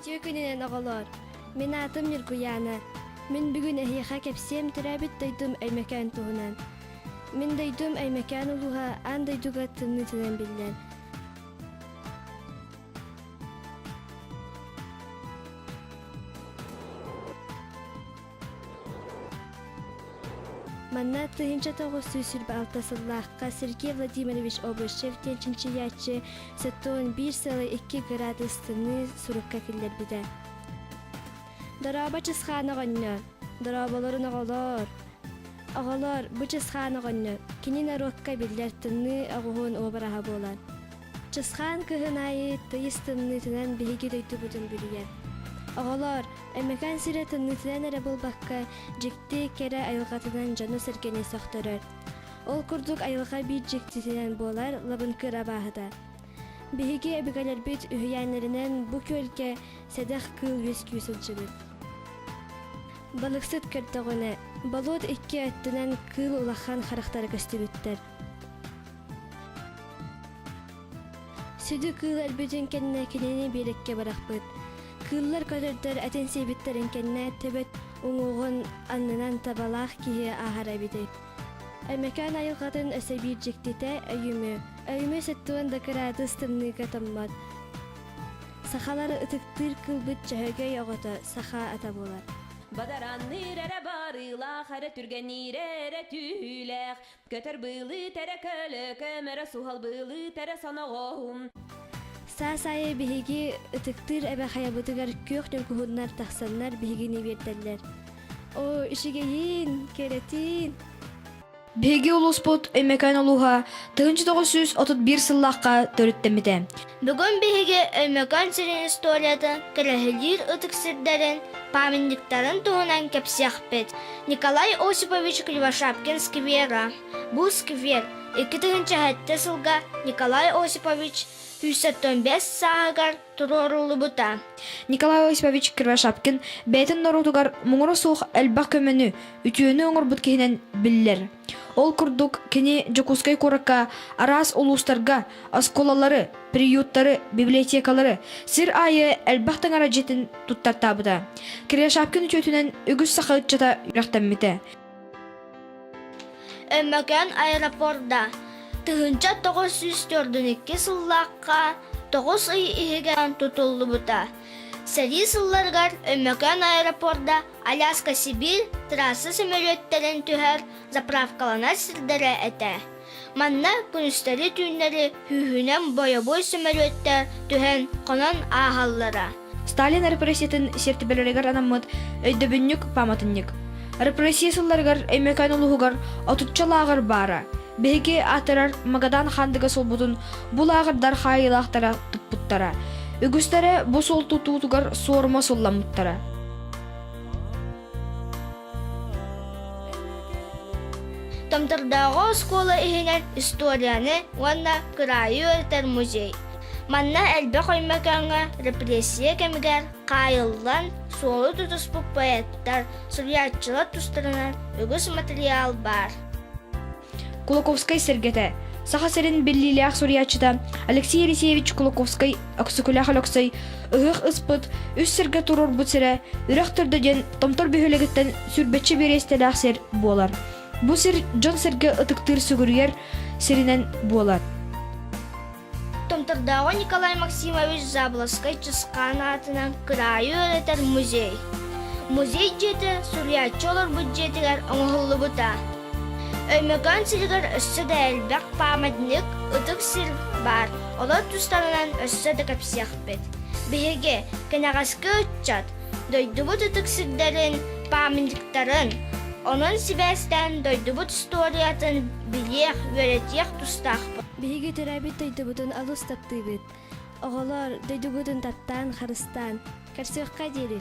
Үтүө күнүнэн оҕолоор! Мин аатым Ньургуйаана. Мин бүгүн эһиэхэ кэпсиэм төрөөбүт дойдум Өймөкөөн туһунан. Мин дойдум Өймөкөөн улууһа аан дойдуга тымныытынан биллэр. Манна тыһыынча тоҕус сүүс сirba алта сыллаахха Сергей Владимирович Обышев диэн чинчийээччи сытуун биир сылы икки градустаныы сурукка киллэрбитэ. Дорообо чысхаан оҕонньор, дорооболорун оҕолоор, оҕолор бу чысхаан оҕонньор кини норуокка биллэр тымныы оҕуһун уобараһа буолар. Чысхаан кыһын аайы тыйыс тымныытынан биһиги дойдубутун бүрүйэр. Оҕолоор, Эмэкээн сирэ тымныытынан эрэ буолбакка, дьикти, кэрэ айылҕатынан дьону-сэргэни сөхтөрөр. Ол курдук айылҕа биир дьиктитинэн буолар лабынкыр абааһыта. Биһиги эбэгэлэрбит үһүйээннэринэн бу күөлгэ сэдэх кыыл үөскүү сылдьыбыт. Балыксыт көрдөҕүнэ, болуот икки өттүнэн кыыл улахан харахтара көстүбүттэр. Сүдү кыыл өлбүтүн кэннэ кинини биэликке бырахпыт. Кыыллар көтөрдөр этин сиэбиттэрин кэннэ төбөт уҥуоҕун аннынан табалаах киһи ааһара эбитит. Эмэкээн айылҕатын өсө биир дьиктитэ өйүмү, өйүмү сыттуон дакыраатыс тымныыга томмот. Сахалар ытыктыыр кылбыт чөһөгөй оҕото саха ата буолар. Бадаранныыр эрэ баарыылаах, эрэ түргэниир эрэ түүлээх, Көтөр быылыы тэрэ көлөкө, мөрө суһал быылыы тэрэ соноҕоһум. Саас-айы биһиги ытыктыыр эбэхайабытыгар күөх дьоҥкуһуннар тахсаннар биһигини биэртэллэр. О, ишигейин, керетин. Биһиги улууспут Өймөкөөн улууһа 1931 сыллаахха төрүттэммитэ. Бүгүн биһиги Өймөкөөн сирин историятын көрөһүлүүр ытык сирдэрин памятниктарын туһунан кэпсиэхпит. Николай Осипович Кривошапкин сквера. Бу сквер 2007 сылга Николай Осипович 175 сааһыгар туруоруллубута. Николай Осипович Кривошапкин бэйэтин норуотугар муҥура суох элбэх көмөнү, үтүөнү оҥорбут киһинэн биллэр. Ол курдук, кини Дьокуускай куоракка араас улуустарга оскуолалары, приюттары, библиотекалары сир аайы элбэх таҥара дьиэтин туттартаабыта. Киряшапкин үтүөтүнэн үгүс саха ыччата үрэхтэммитэ. Өмөкөөн аэропорда тыһыынча тоҕус сүүс төрдүн икки сыллаахха тоҕус ый иһигэр тутуллубута. Сэрии сылларыгар Өймөкөөн аэропорда Аляска-Сибиир трасса сөмөлүөттэрин түһэр заправкаланар сирдэрэ этэ. Манна күнүстэри-түүннэри күүһүнэн бойобуой сөмөлүөттэр түһэн хонон ааһаллара. Сталин репрессиятын сир түбэлэригэр анаммыт өйдөбүнньүк пааматынньык. Репрессия сылларыгар Өймөкөөн улууһугар отучча лааҕыр баара. Биһиги аатырар Магадан Хандыга суолбутун булааҕырдар хаайыылаахтара туппуттара. Үгүстэрэ бу суол тутуутугар суорума сулламмыттара. Томтордооҕу оскуола иһинэн историяны уонна кыраайы үөрэтэр музей. Манна элбэх өймөкөөҥҥө репрессия кэмигэр хаайыллан суолу тутуспут поэттар, суруйааччылар тустарынан үгүс матырыйаал баар. Кулаковскай сэргэтэ, Саха сирин биллиилээх суруйааччыта Алексей Алексеевич Кулаковскай Өксөкүлээх Өлөксөй Ыһыах ыспыт, үс сиргэ туруорбут сирэ, Үрэх Төрдө диэн Томтор бөһүөлэгиттэн сүүрбэччэ бириэстэлээх сир буолар. Бу сир дьон-сэргэ ытыктыыр сүгүрүйэр сиринэн буолар. Томтордооҕу Николай Максимович Заболоцкай Чысхаан аатынан кыраайы үөрэтэр музей. Музей дьиэтэ суруйааччы олорбут дьиэтигэр оҥоһуллубута. Өймөкөөн сиригэр өссө да элбэх пааматньык, ытык сир баар. Олор тустарынан өссө да кэпсиэхпит. Биһиги, кэнэҕэски ыччат, дойдубут ытык сирдэрин, пааматньыктарын, онон сибээстээн дойдубут историятын билиэх, үөрэтиэх тустаахпыт. Биһиги төрөөбүт дойдубутун олус таптыыбыт. Оҕолор, дойдугутун таптаан, харыстаан, көрсүөххэ диэри.